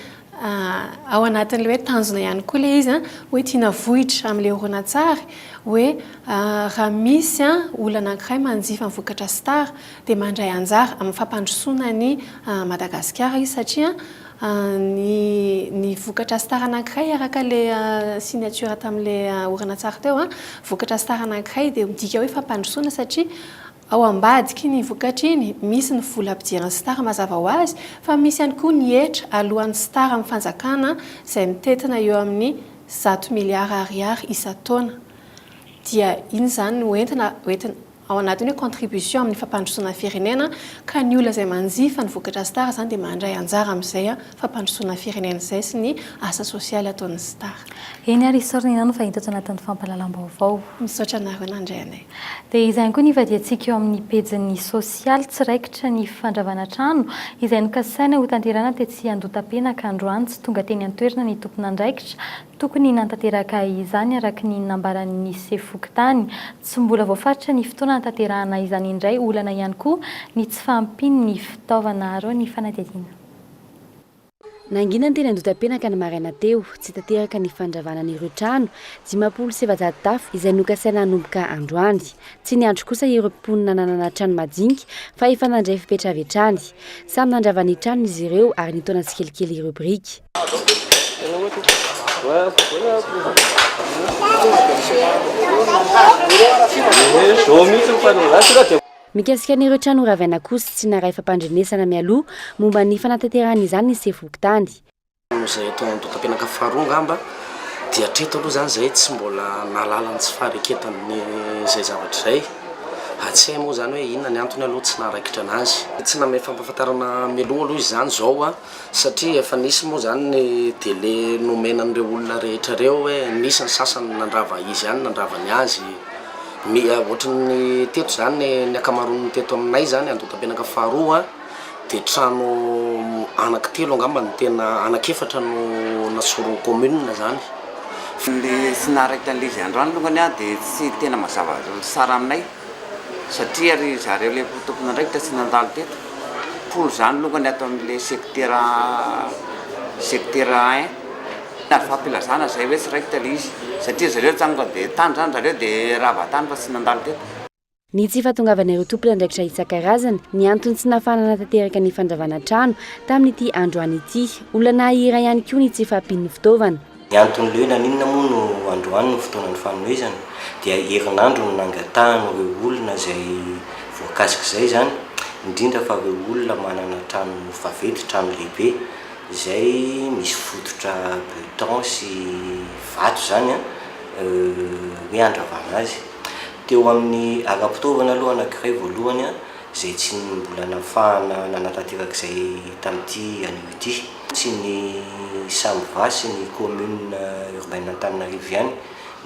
S5: ao anatin'ilay hoe tanjona ihany koa ilay izy hoe tiana vohitra amin'ilay horonantsary hoe raha misy olona anankiray manjifa ny vokatra Star dia mandray anjara amin'ny fampandrosoana an'i Madagasikara izy satria Ny ny vokatra star anankiray araka le signature tamle horonantsary teo an, vokatra star anankiray dia midika hoe fampandrosoana satria ao ambadiky iny vokatra iny misy ny vola ampidiran'ny star mazava ho azy fa misy ihany koa ny hetra aloan'ny star amin'ny fanjakana izay mitentina eo amin'ny zato milliards ariary isan-taona dia iny izany no entina hoentina ao anatin'ny hoe contribution amin'ny fampandrosoana ny firenena ka ny olona izay manjifa ny vokatra Star izany dia mandray anjara amin'izay fampandrosoana ny firenena izay sy ny asa sosialy ataon'ny Star. Eny ary isaorana
S6: ianao nifandimby tato anatin'ny fampahalalam-baovao. Misaotra anareo
S5: nandray anay. Dia izany koa ny
S6: hivadihantsika eo amin'ny pejin'ny sosialy tsy raikitra ny fandravana trano izay nokasaina hotanterahina tetsy Andotapenaka androany tsy tonga teny an-toerana ny tompon'andraikitra Tokony hanatanteraka izany araka ny nambaran'ny sefo fokontany. Tsy mbola voafaritra ny fotoana hanatanterahana izany indray. Olana ihany koa ny tsy fahampian'ny fitaovana arao ny fanadihadiana.
S20: Nangina teny Andotapenaka ny maraina teo, tsy tanteraka ny fandravana an'ireo trano dimampolo sy efajato tafo izay nokasaina hanomboka androany. Tsy niandry kosa ireo mponina nanana trano majinika fa efa nandray fepetra avy hatrany. Samy nandrava ny tranony izy ireo ary nitaona tsikelikely ireo biriky. Mikasika an'ireo trano horavaina kosa tsy naray fampandrenesana mialoha momba ny fanatanterahana izany ny sefom-pokontany. Noho izay eto
S17: Andohatapenaka faharoa angamba dia hatreto aloha izany izahay tsy mbola nahalala ny tsy fahareketan'izay zavatra izay. Tsy hay moa izany hoe inona ny antony aloha tsy naharaikitra an'azy. Tsy nanome fampahafantarana mialoha aloha izany izao satria efa nisy moa izany ny délai nomena an'ireo olona rehetra ireo hoe nisy ny sasany nandrava izy ihany nandrava ny azy, ohatran'ny teto izany ny ankamaroan'ny teto aminay izany Andohatampenaka faharoa dia trano anankitelo angamba no tena anakefatra no nasoron'ny commune izany. Ny
S4: tsy naharaikitra an'ilay izy androany alongany dia tsy tena mazava tsara aminay. Satria ry zareo le tompon'andraikitra tsy nandalo teto polo zany longany ato amin le sekitera sekitera un ary fampilazana zay oe tsy raikitra le izy satria zareo nitsangana de tany zany zareo de rava tany fa tsy nandalo teto. Ny tsy
S20: fahatongavan'ireo tompon'andraikitra isan-karazany, ny antony tsy nahafahana nanatanteraka ny fandravana trano tamin'ity androany ity. Olana iray ihany koa ny tsy fahampian'ny fitaovana. Ny antony lehilan
S21: inona moa no androany no fotoanan'ny fanomezana dia herinandro no nangatahan'ireo olona izay voakasik'izay izany indrindra fa ireo olona manana trano vaventy, trano lehibe izay misy fototra beton sy vato izany an, hoe handravana azy. Teo amin'ny ara-pitaovana aloha anankiray voalohany an izay tsy mbola nafahana nanatanteraka izay tamin'ity anio ity. Tsy ny Samva sy ny Commune Urbaine Antananarivo ihany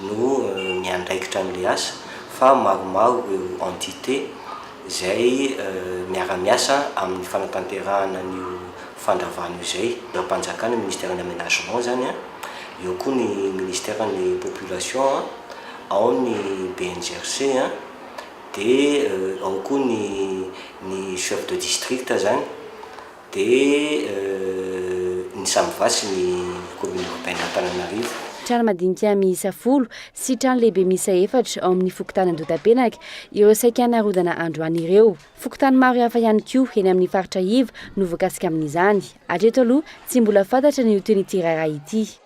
S21: no miandraikitra an'ilay asa fa maromaro ireo Entité izay miara-miasa amin'ny fanatanterahana an'io fandravana io izay. Raharaham-panjakana, Ministeran'ny Aménagement izany an, eo koa ny Ministeran'ny Population an, ao ny BNGRC an, dia ao koa ny ny Chef de District izany. Dia ny Samva sy ny Commune Urbaine Antananarivo. Trano madinika
S20: miisa folo sy trano lehibe miisa efatra ao amin'ny fokontany Andotapenaka ireo saika narodana androany ireo. Fokontany maro hafa ihany koa eny amin'ny faritra iva no voakasika amin'izany. Hatreto aloha tsy mbola fantatra ny ho tohin'ity raharaha ity.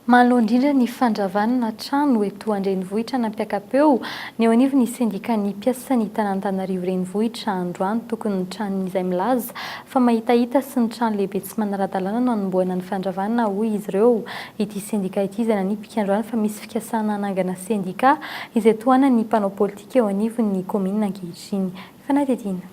S6: Manoloana indrindra ny fandravana trano eto an-drenivohitra nampiaka-peo ny eo anivon'ny sendikan'ny mpiasan'ny tanàn'Antanarivo renivohitra androany tokony ny tranon'izay milaza fa mahitahita sy ny trano lehibe tsy manara-dalàna no hanombohana ny fandravana hoy izy ireo ity sendika ity izay nanipika androany fa misy fikasana hanangana sendika izay tohanan'ny mpanao politika eo anivon'ny kaominina ankehitriny. Fanadihadiana.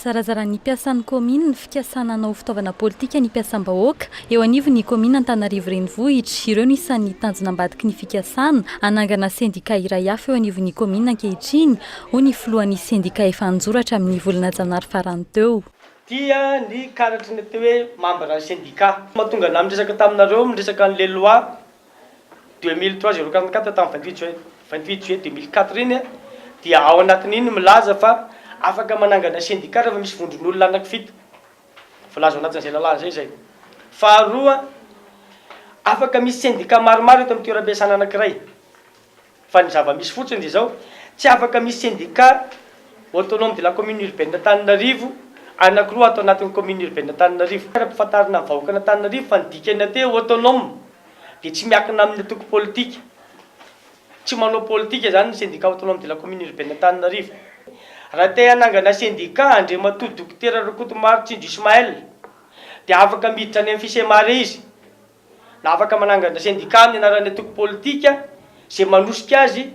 S6: Zarazaran'ny mpiasan'ny kaominina ny fikasana hanao fitaovana politika ny mpiasam-bahoaka eo anivon'ny kaominina Antanarivo Renivohitra. Ireo no isan'ny tanjona ambadiky ny fikasana hanangana sendika iray hafa eo anivon'ny kaominina ankehitriny, hoy ny filohan'ny sendika efa an-joratra amin'ny volana janary farany teo. Tia ny
S22: karatry ny atao hoe mambran'ny sendika. Mahatonga anah miresaka taminareo miresaka an'ilay loi 2003 zéro quarante quatre tamin'ny vingt huit juin vingt huit juillet deux mille quatre iny dia ao anatin'iny milaza fa afaka manangana syndicat rehefa misy vondron'olona anaky fito voalaza ao anatin'izay lalàna izay izay faharoa afaka misy syndicat maromaro eto amin'ny toeram-piasana anankiray Fa ny zava-misy fotsiny dia izao, tsy afaka misy sendika Autonome de la Commune Urbaine Antananarivo anankiroa ato anatin'ny Commune Urbaine Antananarivo. Ampifantarina amin'ny vahoakan'Antananarivo fa ny dikan'ny ate Autonome dia tsy miankina amin'ny antoko politika. Tsy manao politika izany ny sendika Autonome de la Commune Urbaine Antananarivo. Raha te hanangana sendika Andriamatoa Dokotera Rakotomary Tsinjo Ismaël dia afaka miditra any amin'ny Fisemare izy. na afaka manangana sendika amin'ny anaran'ny antoko politika izay manosika azy,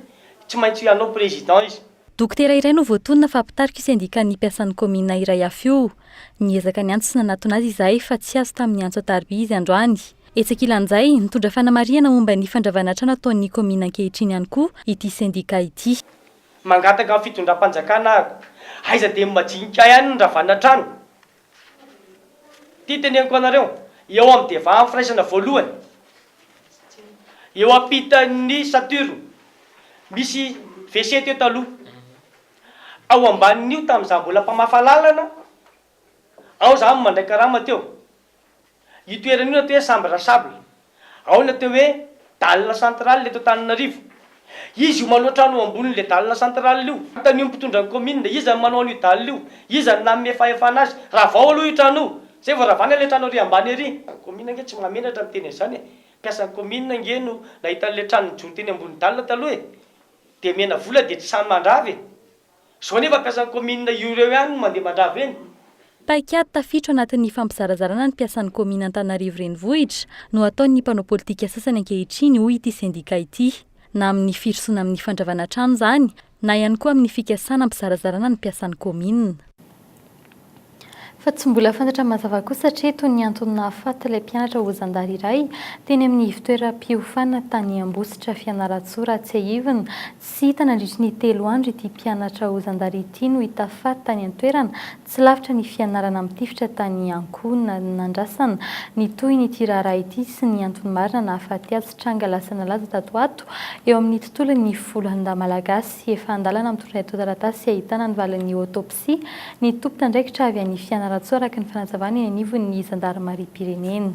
S22: tsy maintsy hanao président izy. Dokotera iray no
S6: voatonona fa mpitarika io sendikan'ny mpiasan'ny kaominina iray hafa io. Niezaka niantso sy nanatona azy izahay fa tsy azo tamin'ny antso an-tariby izy androany. Etsy ankilan'izay, nitondra fanamarihana momba ny fandravana trano ataon'ny kaominina ankehitriny ihany koa ity sendika ity. Mangataka amin'ny
S22: fitondram-panjakana aho, aiza dia ny majinika ihany no nandravana trano? Ity teneniko anareo, eo amin'ny devahan'ny firaisana voalohany, eo ampitan'ny Saturne, misy WC teo taloha, ao ambanin'io tamin'izaho mbola mpamafa lalana, ao izaho no mandray karama teo. Io toerana io natao hoe Chambre à sable. Ao ny atao hoe Dalle centrale eto Antananarivo. Izy io maloha trano eo ambonin'ilay Dalle centrale io. Anontanio ny mpitondra ny kaominina, iza no manao an'io Dalle io? Iza no nanome fahefana azy? Ravao aloha io trano io. Izay vao ravana ilay trano ery ambany ery. Ny kaominina ange tsy mahamenatra miteny an'izany e. Mpiasan'ny kaominina ange no nahita an'ilay trano nijoro teny ambony Dalle taloha e. Dia menavola dia tsy sahy mandrava e. Zao nefa mpiasan'ny kaominina io reo ihany no mandeha mandrava eny. Paikady
S6: tafiditra ao anatin'ny fampizarazarana ny mpiasan'ny kaominina Antananarivo Renivohitra no ataon'ny mpanao politika sasany ankehitriny hoy ity sendika ity. Na amin'ny firosoana amin'ny fandravana trano izany na ihany koa amin'ny fikasana hampizarazarana ny mpiasan'ny kaominina. Fa tsy mbola fantatra mazava kosa hatreto ny antony nahafaty ilay mpianatra ho zandary iray teny amin'ny ivontoeram-piofanana tany Ambositra Fianarantsoa raha tsiahivina. Tsy hita nandritry ny telo andro ity mpianatra ho zandary ity no hita faty tany an-toerana tsy lavitra ny fianarana mitifitra tany Ankohona. Nandrasana ny tohin'ity raharaha ity sy ny antony marina nahafaty azy tranga lasa nalaza tato ato eo amin'ny tontolon'ny folo andahy malagasy. Efa an-dalana mitondra etoataratasy ahitana ny valin'ny autopsie. sy ny tompon'andraikitra avy any Fianarantsoa araka ny fanazavana eny anivon'ny zandarimariam-pirenena.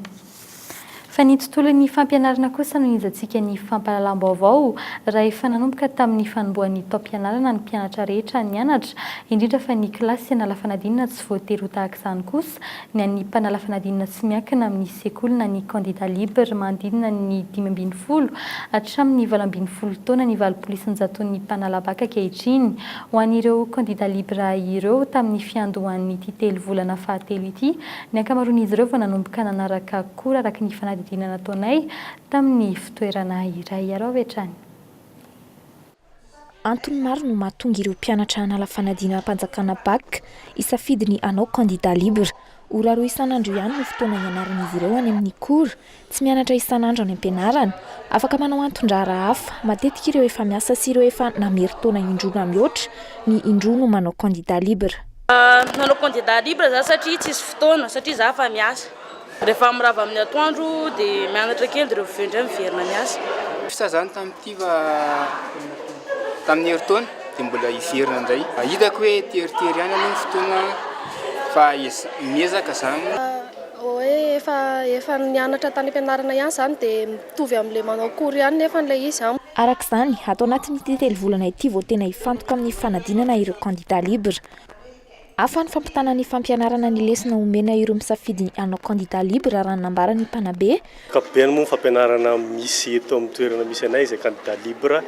S6: Fa ny tontolon'ny fampianarana kosa no nijantsika ny fampahalalam-baovao raha efa nanomboka tamin'ny fanombohan'ny taom-pianarana ny mpianatra rehetra nianatra, indrindra fa ny kilasy an'ala fanadinana tsy voatery ho tahaka izany kosa ny an'ny mpanala fanadinana tsy miankina amin'ny sekoly na ny candidat libre manodidina ny dimy ambin'ny folo hatramin'ny valo ambin'ny folo taona ny valompolo isan-jaton'ny mpanala baka ankehitriny Ho an'ireo kandida Libra ireo, tamin'ny fiandohan'ity telo volana fahatelo ity, ny ankamaroan'izy ireo vao nanomboka nanaraka cours araka ny fanadihadiana nataonay tamin'ny fitoerana iray. Ary avy hatrany.
S11: Antony maro no mahatonga ireo mpianatra hanala fanadinam-panjakana Bac hisafidy ny hanao kandida Libra. Ora roa isan'andro ihany no fotoana hianaran'izy ireo any amin'ny cours. Tsy mianatra isan'andro any am-pianarana. Afaka manao anton-draharaha hafa. Matetika ireo efa miasa sy ireo efa namerin-taona indroa na mihoatra ny indroa no manao candidat libre. Nanao
S23: candidat libre za satria tsisy fotoana, satria za efa miasa. Rehefa mirava amin'ny atoandro dia mianatra kely dia rehefa avy eo indray miverina miasa. Sa zany tamin'ity
S24: fa tamin'ny herintaona dia mbola hiverina indray. Hitako hoe teritery ihany aloha ny fotoana fa miezaka zany. Hoe
S7: efa efa nianatra tany am-pianarana ihany izany dia mitovy amin'ilay manao cours ihany nefany ilay izy an! Araka izany, ato
S11: anatin'ity telo volana ity vao tena hifantoka amin'ny fanadinana ireo kandida libre. Hafa ny fampitana ny fampianarana ny lesona omena ireo misafidy ny hanao kandida libre raha ny nambaran'ny mpanabe. Ankapobeny moa ny
S9: fampianarana misy eto amin'ny toerana misy anay izay kandida libre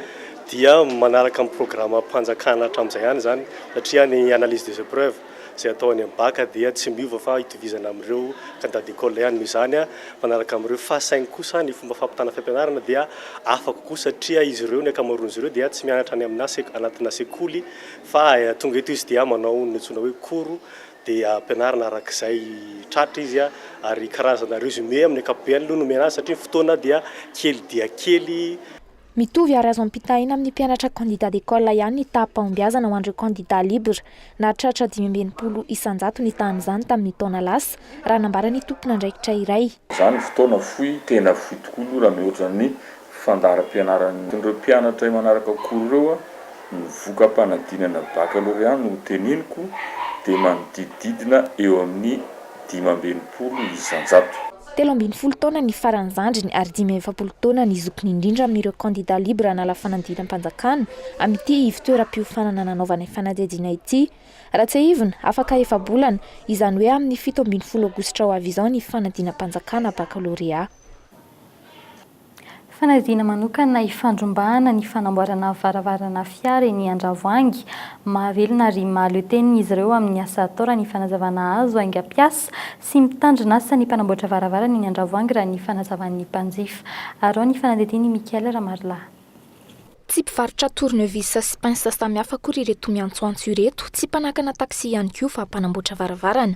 S9: dia manaraka ny programam-panjakana hatramin'izay ihany izany satria ny analyse des épreuves, izay atao any amin'ny bac dia tsy miova fa itovizana amin'ireo candidat d'école ihany. Noho izany, manaraka amin'ireo fahasainy kosa ny fomba fampitana fampianarana dia hafa kokoa satria izy ireo, ny ankamaroan'izy ireo dia tsy mianatra any aminà anatinà sekoly fa tonga eto izy dia manao ny antsoina hoe cours dia ampianarina araka izay tratra izy ary karazana résumé amin'ny ankapobeny aloha no omena azy satria ny fotoana dia kely dia kely. Mitovy ary
S11: azo ampitahaina amin'ny mpianatra candidat d'école ihany ny taham-pahombiazana ho an'ireo candidat libre. Nahatratra dimy amby enimpolo isan-jato ny tahan'izany tamin'ny taona lasa, raha nambaran'ny tompon'andraikitra iray. Izany fotoana fohy,
S25: tena fohy tokoa aloha raha mihoatra ny fandaharam-pianaran'ireo mpianatra imanaraka akory ireo, ny voka-panadinana bakalorea no hoteneniko dia manodidididina eo amin'ny dimy amby enimpolo isan-jato. Telo ambin'ny folo taona
S11: ny faran'ny zandriny ary dimy amby efapolo taona ny zokiny indrindra amin'ireo kandida libre hanala fanadinam-panjakana amin'ity ivon-toeram-piofanana nanaovany fanadihadiana ity. Raha tsiahivina, afaka efa-bolana, izany hoe amin'ny fito ambin'ny folo aogositra ho avy izao ny fanadinam-panjakana bakalorea.
S6: Fanadihadiana manokana hifandrombahana ny fanamboarana varavarana fiara eny Andravoahangy. Mahavelona ary mahaleo tena izy ireo amin'ny asa atao raha ny fanazavana azo aingam-piasa sy mitandrina asa ny mpanamboatra varavarana eny Andravoahangy raha ny fanazavan'ny mpanjifa. Arao ny fanadihadian'i Michael Ramarilahy. Tsy
S11: mpivarotra tournevis sy pince samihafa akory ireto miantsoantso ireto, tsy mpanakana taxi ihany koa fa mpanamboatra varavarana.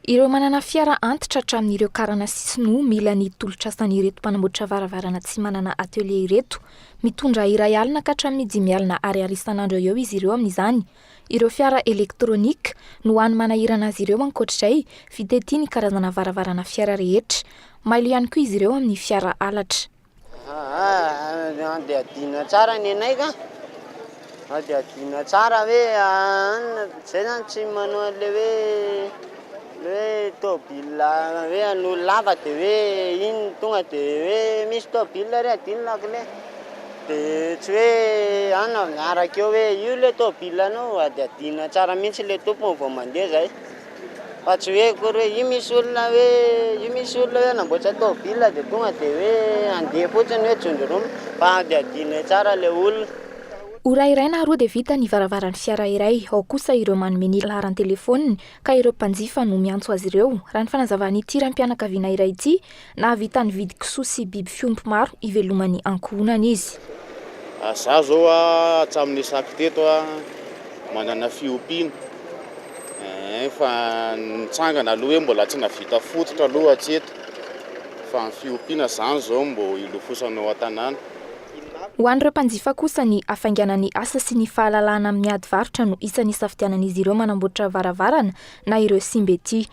S11: Ireo manana fiara antitra hatramin'ireo karana sy sinoa mila ny tolotrasan'ireto mpanamboatra varavarana tsy manana atelier ireto. Mitondra iray alina ka hatramin'ny dimy alina ariary isan'andro eo ho eo izy ireo amin'izany, Ireo fiara elektronika no hany manahirana azy ireo ankoatr'izay fitetia ny karazana varavarana fiara rehetra. Mailo ihany koa izy ireo amin'ny fiara halatra.
S26: Adihadiana tsara ny anay ka. Adihadiana tsara hoe izay zany tsy manao an'ilay hoe Ny hoe tôbila hoe an'olo lava de hoe iny tonga de hoe misy tôbila re adinina kle de tsy hoe ana miaraka eo hoe io le tôbila anao ady adinina tsara mihitsy le tompony vao mandeha zay fa tsy hoe akory hoe io misy olona hoe io misy olona hoe hanamboatra tôbila de tonga de hoe andeha fotsiny hoe jondromina fa ady adinina tsara le olona. Ora iray
S11: na roa dia vita ny varavaran'ny fiara iray, ao kosa ireo manome ny laharan-telefaoniny ka ireo mpanjifa no miantso azy ireo, raha ny fanazavan'ity raim-pianakaviana iray ity, nahavita nividy kisoa sy biby fiompy maro hivelomany ankohonany izy. Izaho
S3: izao hatramin'ny nisako teto manana fiompiana eh, fa nitsangana aloha hoe mbola tsy nahavita fototra aloha hatreto, fa ny fiompiana izany izao mbo hilofosanao an-tanàna. Ho
S11: an'ireo mpanjifa kosa, ny hafainganan'ny asa sy ny fahalalahana amin'ny ady varotra no isan'ny isafidianan'izy ireo manamboatra varavarana na ireo simba ety.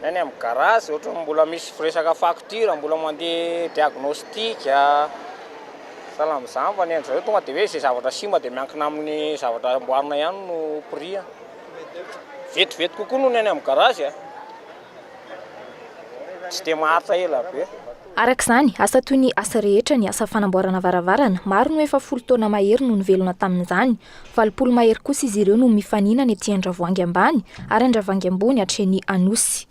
S11: Ny any amin'ny
S16: garazy ohatran'ny mbola misy firesaka facture, mbola mandeha diagnostic, sahala amin'izany fa ny an'izao tonga dia hoe izay zavatra simba dia miankina amin'ny zavatra amboarina ihany no prix, vetivety kokoa noho ny any amin'ny garazy. tsy dia maharitra ela be. Araka izany, asa
S11: toy ny asa rehetra ny asa fanamboarana varavarana. Maro no efa folo taona mahery no nivelona tamin'izany. Valopolo mahery kosa izy ireo no mifaninana ety Andravoahangy ambany ary Andravangy ambony hatreny Anosy.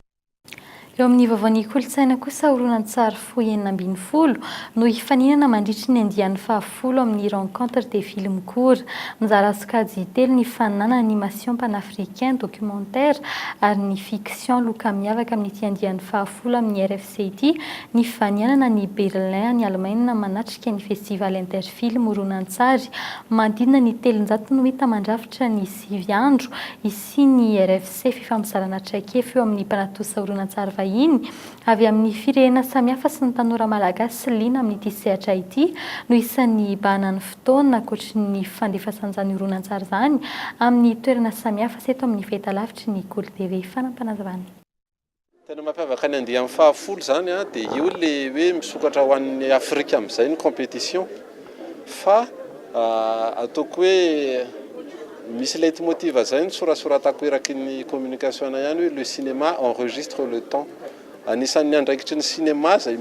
S11: Eo
S6: amin'ny vaovaon'ny kolontsaina kosa horonan-tsary Pôhy enina ambin'ny folo no hifaninana mandritry ny andiany fahafolo amin'ny Rencontres des villes Mikora. Mizara sokajy telo ny faninana Animation panafricain, Documentaire ary ny Fiction Loka miavaka amin'ity andiany fahafolo amin'ny RFC ity ny fivanianana any Berlin any Alemaina manatrika ny Festival Interfilm horonantsary manodidina ny telonjato no hita mandrafitra ny sivy andro hisian'ny RFC Fifampizarana traikefa eo amin'ny mpanatonsa horonantsary vahiny avy amin'ny firehena samihafa sy ny tanora malagasy liana amin'ity sehatra ity no isan'ny hibahana ny fotoana ankoatry ny fandefasàn'izany horonantsary izany amin'ny toerana samihafa sy eto amin'ny fahitalavitry ny Kolo TV. Fanampinazavana. Tena
S8: mampiavaka ny andiany fahafolo izany dia io ilay hoe misokatra ho an'ny Afrika amin'izay ny competition. Fa ataoko hoe misy leit motiv zay nosorasoratako eraky ny communication ihany hoe le cinéma enregistre le temps. Anisan'ny andraikitry ny cinéma zay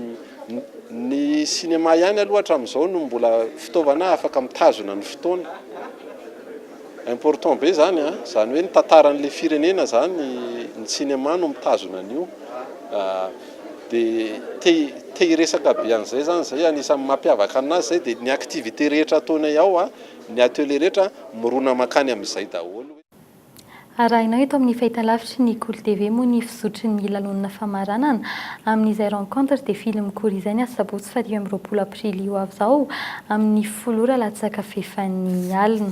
S8: ny cinéma ihany aloha hatramin'izao no mbola fitaovana afaka mitazona ny fotoana. Important be zany a, zany hoe ny tantaran'le firenena zany ny cinéma no mitazona an'io, de te te hiresaka be an'zay zany zay anisan'ny mampiavaka anazy zay de ny activité rehetra ataonay ao a, ny atelier rehetra mirona mankany am'zay daholo. Arahinao
S6: eto amin'ny fahitalavitry ny Kolo TV moa ny fizotry ny lalonana famaranana amin'izay rencontre de fily mikory izay ny asabotsy faha dimy amby roapolo aprily ho avy izao amin'ny folo ora latsaka fefan'ny alina.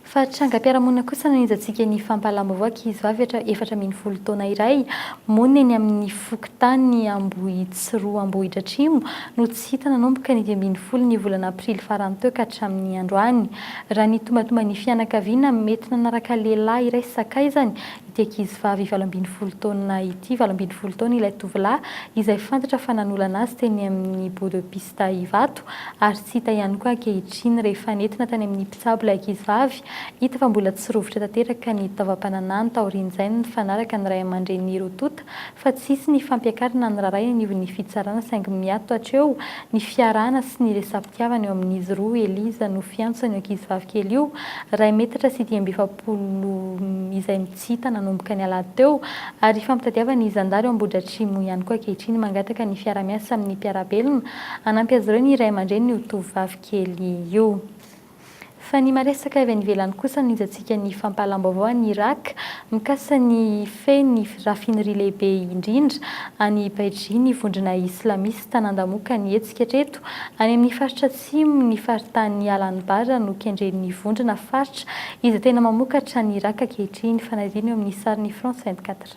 S6: Fa trangam-piarahamonina kosa nanenjantsika ny fampahalalam-baovao ankizivavy efatra ambin'ny folo taona iray monina eny amin'ny fokontany Ambohitsiroa Ambohidratrimo no tsy hita nanomboka ny dimy ambin'ny folo ny volana aprily farany teo ka hatramin'ny androany. Raha nitombatomba ny fianakaviana mety nanaraka lehilahy iray sakaizany ity ankizivavy valo ambin'ny folo taona ity. Valo ambin'ny folo taona ilay tovolahy izay fantatra fa nanolana azy teny amin'ny Bout de piste Ivato ary tsy hita ihany koa ankehitriny. Rehefa nentina tany amin'ny mpitsabo ilay ankizivavy, hita fa mbola tsy rovitra tanteraka ny taovam-pananahany. Taorian'izay nifanaraka ny ray aman-dreniny roa tonta fa tsy hisy ny fampiakarana ny raharaha eny ivon'ny fitsarana saingy miato hatreo ny fiarahana sy ny resa-pitiavana eo amin'izy roa Eliza no fiantso an'io ankizivavy kely io iray metatra sy dimy amby efapolo izay tsy hita nanomboka ny alahady teo ary ifampitadiavan'ny zandary ao Ambohidratrimo ihany koa ankehitriny mangataka ny fiarahamiasa amin'ny mpiara-belona hanampy azy ireo ny ray aman-dreniny io tovovavy kely io. Fa ny maresaka avy any ivelany kosa no nijantsika ny fampahalam-baovao any Iràka mikasa ny hifehy ny rafinri lehibe indrindra any Baiji ny vondrona islamista nandamoaka ny hetsika hatreto any amin'ny faritra atsimo ny faritanin'i Al-Anbar no kendren'ny vondrona faritra izay tena mamokatra any Iràka ankehitriny, fanadino eo amin'ny sarin'ny France 24.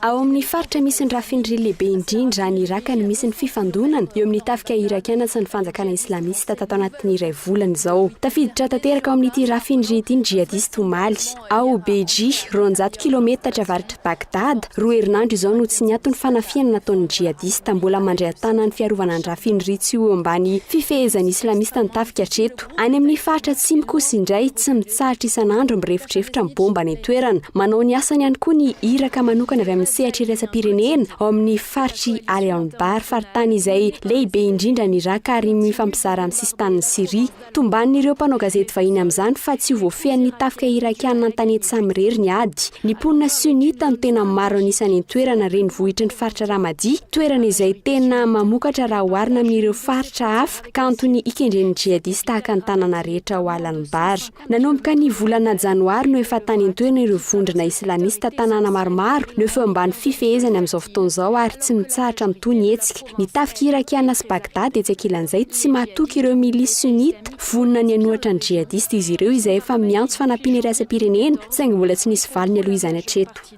S6: Ao
S10: amin' ny faritra misy ny rafin-dry lehibe indrindra any Iràka no misy ny fifandonana eo amin' ny tafika irakiana sy ny fanjakana islamista tato anatin' ny iray volana izao. Tafiditra tanteraka ao amin' ity rafin-dry ity ny jihadista omaly, ao Beji, roanjato kilaometatra avaratr' i Bagdada. Roa herinandro izao no tsy niato ny fanafihana nataon' ny jihadista mbola mandray an-tanana ny fiarovana ny rafin-dry tsy ho eo ambany fifehezan' ny islamista ny tafika hatreto. Any amin'ny faritra Atsimo kosa indray tsy mitsahatra isan'andro mirefodrefotra ny bomba any an-toerana. Manao ny asany ihany koa ny iraka manokana avy amin'ny sehatra iraisam-pirenena ao amin'ny faritr'i Ali Anbar, faritany izay lehibe indrindra ny Iràka ary mifampizara amin'ny sisin-tanin'i Syria. Tomban'ireo mpanao gazety vahiny amin'izany fa tsy ho voafehin'ny tafika irakiana an-tanety samirery ny ady. Ny mponina sunnite no tena maro an'isa any an-toerana, renivohitry ny faritra Ramadi, toerana izay tena mamokatra raha oharina amin'ireo faritra hafa ka antony ikendren'ny djihadistes tahaka ny tanàna rehetra ao Al-Anbar. Nanomboka ny volana janoary no efa tany an-toerana ireo vondrona islamista tanàna maromaro no efa eo ambany fifehezany amin'izao fotoana izao ary tsy mitsahatra mitohy ny hetsika. Ny tafika irakiana sy Baghdad etsy ankilan'izay tsy mahatoky ireo milices sunnites vonona ny hanohatra ny djihadistes izy ireo izay efa miantso fanampiana iraisam-pirenena saingy mbola tsy nisy valiny aloha izany hatreto.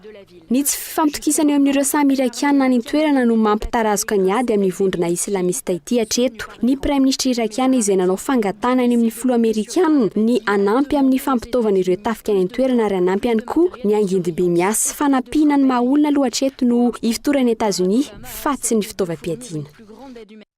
S10: Ny tsy fifampitokisana eo amin'ireo samy Irakiana any an-toerana no mampitarazoka ny ady amin'ny vondrona islamista ity hatreto. Ny praiminisitra Irakiana izay nanao fangatahana any amin'ny filoha Amerikana ny hanampy amin'ny fampitaovana ireo tafika any an-toerana ary hanampy ihany koa ny angidimby miasa. Fanampiana ny maha-olona aloha hatreto no ifotoran'i Etazonia fa tsy ny fitaovam-piadiana.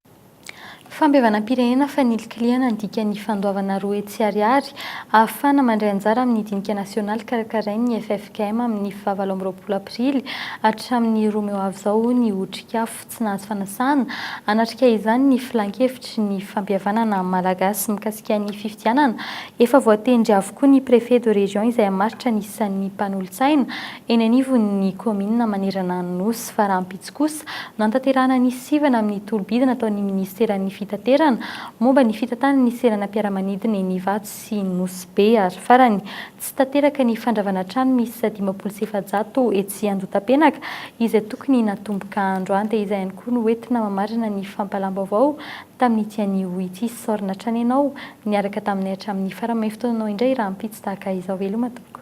S6: Fampihavanam-pirenena fanilikilihana ny dikan'ny fandoavana roa hetsy ariary ahafahana mandray anjara amin'ny dinika nasionaly karakarain'ny ffkm amin'ny faha valo amby roapolo aprily hatramin'ny roa mey ho avy izao, hoy ny Otrikafo tsy nahazo fanasana hanatrika izany ny Filankevitry ny fampihavanana malagasy mikasika ny fifidianana. Efa voatendry avokoa ny Préfet de Région izay hamaritra ny isan'ny mpanolotsaina eny anivon'ny kaominina manerana ny Nosy, fa rahampitso. kosa, nantanterahana ny sivana amin'ny tolo-bidy nataon'ny minisiteran'ny fitaterana, momba ny fitantanana ny seranam-piaramanidina eny Ivato sy Nosy Be, ary farany, tsy tanteraka ny fandravana trano miisa dimampolo sy efajato etsy Andotapenaka, izay tokony natomboka andro ante. Izay ihany koa no entina mamarana ny fampalam-baovao tamin'ity anio ity. Saorina hatrany ianao niaraka taminay hatramin'ny farany. May fotoananao indray rahampitso tahaka izao veloma tompoko.